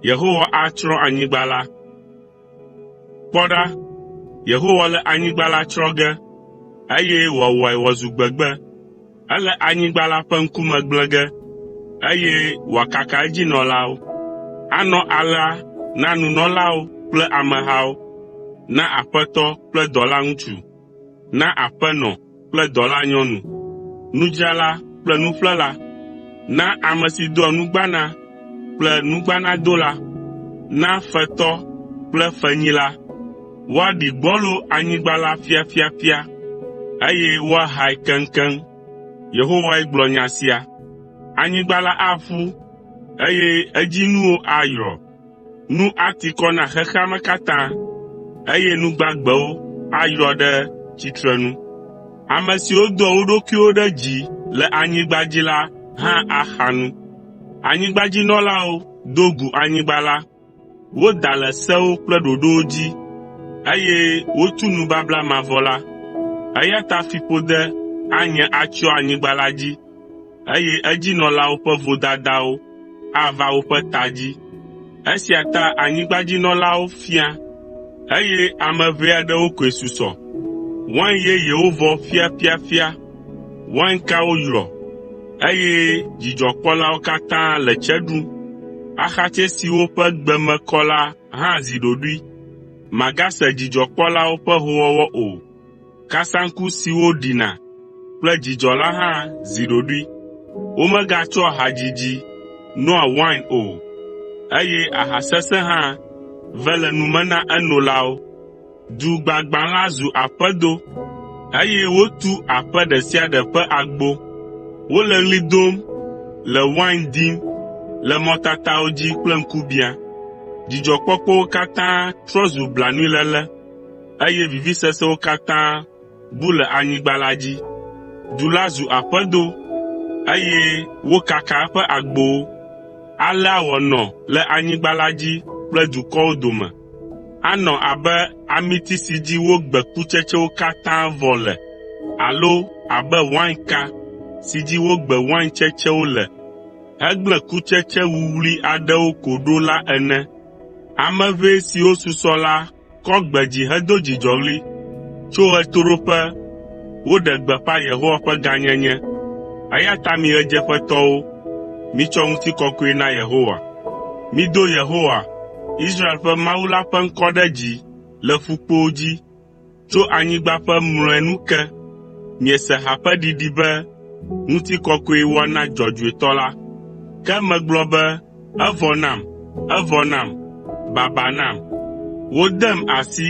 Yehowa atsrɔ̃ anyigba la. Kpɔ ɖa, Yehowa le anyigba la tsrɔ̃ ge, eye wòawɔe wòazu gbegbe. Ele anyigba la ƒe ŋkume gblẽ ge, eye wòakaka edzinɔlawo. Anɔ alea na nunɔlawo kple amehawo, na aƒetɔ kple dɔlaŋutsu, na aƒenɔ kple dɔlanyɔnu, nudzrala kple nuƒlela, na ame si doa nugbana kple nugbanadola, na fetɔ kple fenyila. Woaɖi gbɔlo anyigba la ƒiaƒiaƒia, eye woahae keŋkeŋ.” Yehowae gblɔ nya sia. “Anyigba la aƒu, eye edzinuwo ayrɔ. Nu ati kɔ na xexea me katã, eye nu gbagbewo ayrɔ ɖe tsitrenu. Ame siwo doa wo ɖokuiwo ɖe dzi le anyigba dzi la hã axa nu. Anyigbadzinɔlawo do gu anyigba la, Woda le sewo kple ɖoɖowo dzi, eye wotu nubabla mavɔ la. Eya ta fiƒode anye atsyɔ anyigba la dzi, eye edzinɔlawo ƒe vodadawo ava woƒe ta dzi. Esia ta anyigbadzinɔlawo fia, eye ame ʋɛ aɖewo koe susɔ. Wain yeyewo vɔ ƒiaƒiaƒia Wainkawo yrɔ, eye dzidzɔkpɔlawo katã le tse ɖum. Axatsɛ siwo ƒe gbe me kɔ la hã zi ɖoɖoe. Màgase dzidzɔkpɔlawo ƒe hoowɔwɔ o. Kasaŋku siwo ɖina kple dzidzɔ la hã zi ɖoɖoe. Womegatsɔa hadzidzi noa wain o, eye aha sesẽ hã ve le nu me na enolawo. Du gbagbã la zu aƒedo, eye wotu aƒe ɖe sia ɖe ƒe agbo. Wole ɣli dom, le wain dim, le mɔtatawo dzi kple ŋkubiã. Dzidzɔkpɔkpɔwo katã trɔ zu blanuiléle, eye vivisesewo katã bu le anyigba la dzi. Du la zu aƒedo, eye wokaka eƒe agbowo. Alea wòanɔ le anyigba la dzi kple dukɔwo dome. Anɔ abe amiti si dzi wogbe kutsetsewo katã vɔ le alo abe wainka si dzi wogbe wain tsetsewo le hegblẽ kutsetse wuwlui aɖewo ko ɖo la ene. Ame ʋɛ siwo susɔ la kɔ gbe dzi hedo dzidzɔɣli. Tso ɣetoɖoƒe Woɖe gbeƒã Yehowa ƒe gãnyenye. Eya ta mi ɣedzeƒetɔwo, mitsɔ ŋutikɔkɔe na Yehowa. Mido Yehowa, Israel ƒe Mawu la ƒe ŋkɔ ɖe dzi le ƒukpowo dzi, tso anyigba ƒe mlɔenu ke. Miese ha ƒe ɖiɖi be, “Ŋutikɔkɔe woana Dzɔdzɔetɔ la.” Ke megblɔ be, “Evɔ nam, evɔ nam! Baba nam! Wodem asi!”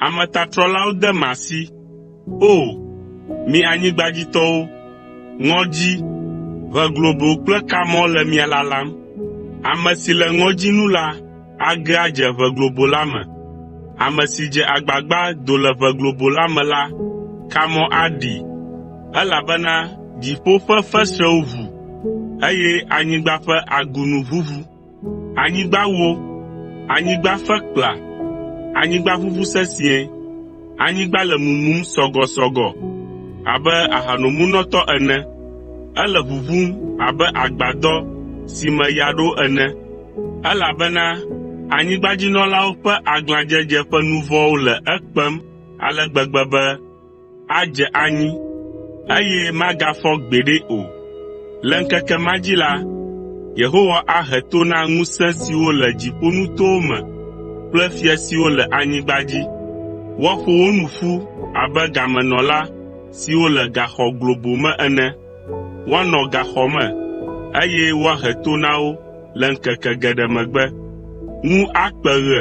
Ametatrɔlawo dem asi. O! Mi anyigbadzitɔwo, ŋɔdzi, ʋe globo kple kamɔ le mia lalam. Ame si le ŋɔdzi nu la age adze ʋe globo la me. Ame si dze agbagba do le ʋe globo la me la, kamɔ aɖii, elabena dziƒo ƒe fesrẽwo ʋu, eye anyigba ƒe agunu ʋuʋu. Anyigba wó, anyigba fe kpla, anyigba ʋuʋu sesĩe, anyigba le mumum sɔgɔsɔgɔ abe ahanomunɔtɔ ene, ele ʋuʋum abe agbadɔ si me ya ɖo ene, elabena anyigbadzinɔlawo ƒe aglãdzedze ƒe nu vɔ̃wo le ekpem ale gbegbe be adze anyi, eye magafɔ gbeɖe o. Le ŋkeke ma dzi la, Yehowa ahe to na ŋusẽ siwo le dziƒonutowo me kple fia siwo le anyigba dzi. Woaƒo wo nu ƒu abe gamenɔla siwo le gaxɔ globo me ene. Woanɔ gaxɔ me, eye woahe to na wo le ŋkeke geɖe megbe. Ŋu akpe ɣe,